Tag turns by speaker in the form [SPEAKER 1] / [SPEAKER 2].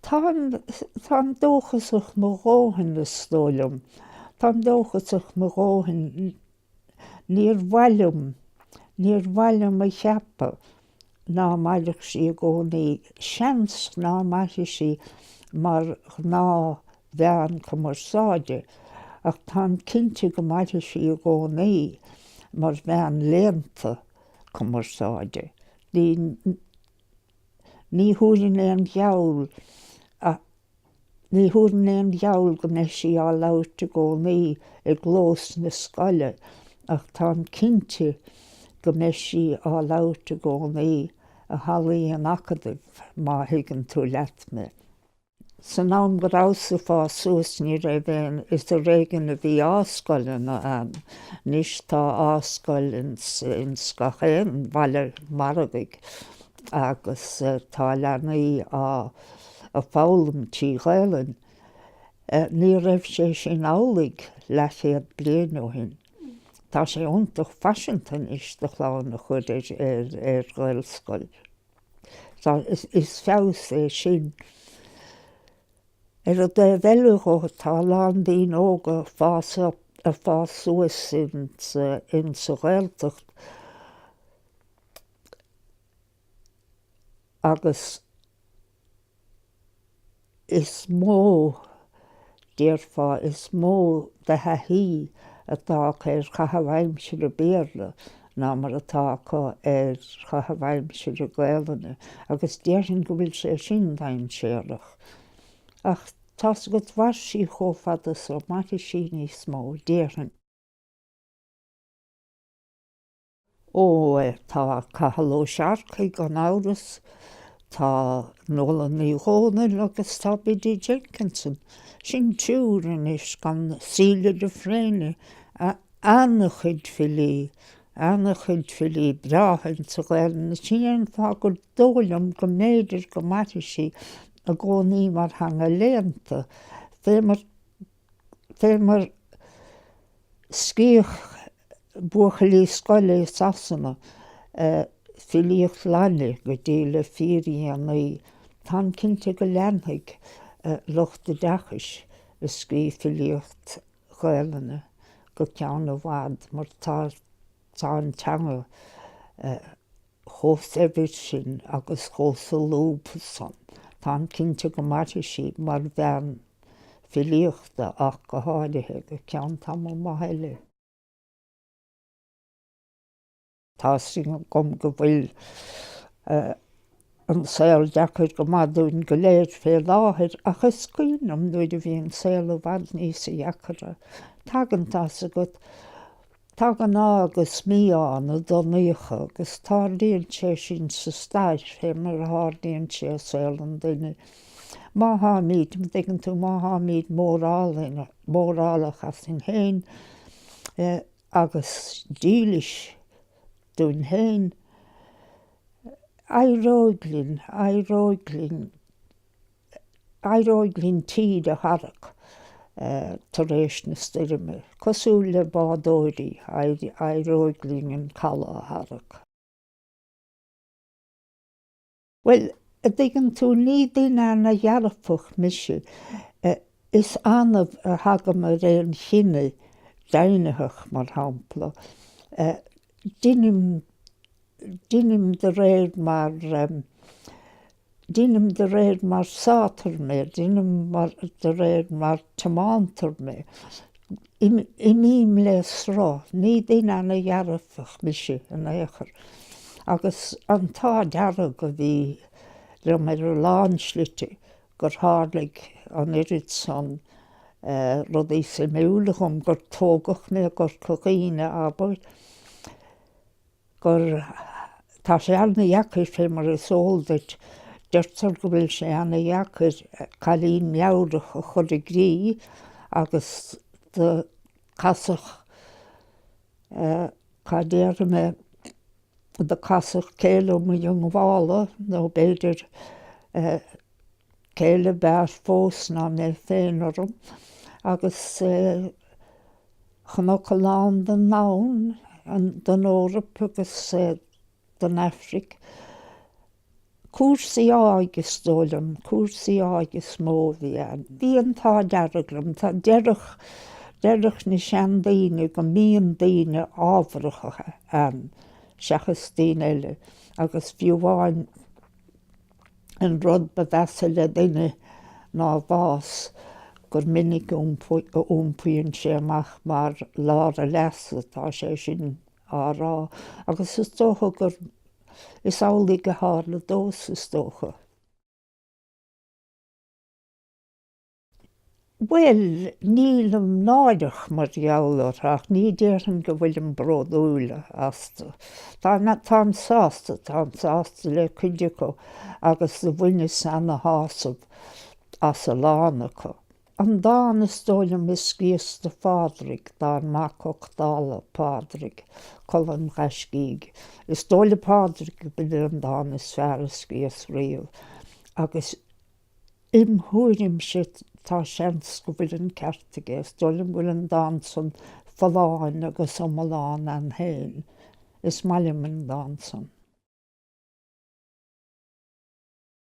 [SPEAKER 1] Táim dóchasach mo dhóthain, is dóigh liom. Táim dóchasach mo dhóthain. Níor mhaith liom, níor mhaith liom a cheapadh. ná mairfeadh sí i gcónaí, seans ná mairfidh sí mar ghnáthmheán cumarsáide, ach táim cinnte go mairfidh sí i gcónaí mar mheán léannta cumarsáide. Ní, ní thabharfainn aon gheall a. Ní thabharfainn aon gheall go mbeidh sí á labhairt i gcónaí i gclós na scoile ach táim cinnte go mbeidh sí á labhairt i gcónaí i hallaí an Acadaimh, má thuigeann tú leat mé. San am go rabhas-sa ag fás suas ní raibh aon is ar éigean a bhí A-scoileanna ann. Anois tá A-scoil ins gach aon bhaile margaidh. agus tá leanaí á foghlaim trí Ghaelainn. Ní raibh sé sin amhlaidh leathchéad bliain ó shin. Tá sé iontach faiseanta anois do chlann a chur ar Ghaelscoil. Is feabhas é sin. Ar an dtaobh eile dhó, tá a lán daoine óga ag fás suas in sa Ghaeltacht, agus is mó, déarfá, is mó de thaithí atá acu ar chaitheamh aimsire Béarla ná mar atá acu ar chaitheamh aimsire Gaolainne agus déarfainn go bhfuil sé sin dainséarach. Ach tá's agat, mhair sí chomh fada so, mairfidh sí níos mó, déarfainn. Ó tá Cathal Ó Searcaigh gan amhras, tá Nuala Ní Dhomhnaill agus tá Biddy Jenkinson, sin triúr anois gan Celia de Fréine, ana-chuid filí, ana-chuid filí breátha insa Ghaelainn, sin é an fáth gur dóigh liom go mb'fhéidir go mairfidh sí i gcónaí mar theanga léannta, fé mar fé mar a scríobhadh buachaillí scoile i Sasana filíocht Laidine go dtí le fíordhéanaí. Táim cinnte go leanfaidh lucht oideachais ag scríobh filíocht Ghaelainne go ceann i bhfad mar tá an teanga, chomh saibhir sin agus chomh solúbtha san. Táim cinnte go mairfidh sí mar mheán filíochta ach go háirithe go ceann tamall maith eile. Tá a fhios agam go bhfuil an saol deacair go maith dúinn go léir fé láthair ach is cuimhin liom nuair a bhí an saol i bhfad níosa dheacra, tagann tá a fhios agat Tagann ádh agus mí-ádh ina dtonnaíocha agus tarlaíonn sé sin sa stair fé mar a tharlaíonn sé i saol an duine. Má tháimid, dtuigeann tú, má tháimid mórálach asainn féin agus dílis dúinn féin, éireoidh linn, éireoidh linn. Éireoidh linn tír a tharrac tar éis na stoirme. Cosúil le bádóirí, éireoidh linn an caladh a tharrac. Bhuel, a' dtuigeann tú, ní duine ana dhearfach mise, is annamh a thagaim ar aon chinneadh deimhnitheach, mar shampla, deinim deinim de réir mar deinim de réir mar sátar mé deinim de réir mar tiomántar mé imím le sruth ní duine ana dhearfach mise in aon chor agus an t-ádh dearg a bhí liom ar a lán slite gur tharlaigh an oiread san rudaí suimiúla dhom gur tógadh mé i gCorca Dhuibhne abair. gur Tá sé an-deacair fé mar is eol duit, deirtear go bhfuil sé an-deacair cailín meabhrach a chur i gcrích agus do casadh eh cad déarfaidh mé do casadh céile mo dhiongbhála nó b'fhéidir eh céile b'fhearr fós ná mé féin orm agus eh Chonac a lán don domhan, don Eoraip agus don Afraic, cúrsaí áidh is dóigh liom, cúrsaí áidh is mó a bhí ann. Bhí an t-ádh dearg liom, tá deireadh, deireadh na seandaoine go mbíonn daoine ámharacha ann seachas daoine eile agus fiú amháin, An rud ba mheasa le duine ná a bhás, gur minic a iompaíonn sé amach mar lár a leasa, tá sé sin á rá, agus is dócha gur, is amhlaidh a tharla domhsa, is dócha. Bhuel, nílim náirithe mar gheall orthu ach ní déarfainn go bhfuilim bródúil astu. Táim sásta, táim sásta le cuid acu agus bhaineas ana-shásamh as a lán acu. An dán is dóigh liom a scríos do Phádraig, dár mac uchtála Phádraig, Colann Ghaiscígh. Is dóigh le Pádraig gurb é an dán is fearr a scríos riamh agus. Im thuairimse, tá seans go bhfuil an ceart aige. Is dóigh liom go bhfuil an dán san folláin agus iomlán ann féin. Is maith liom an dán san.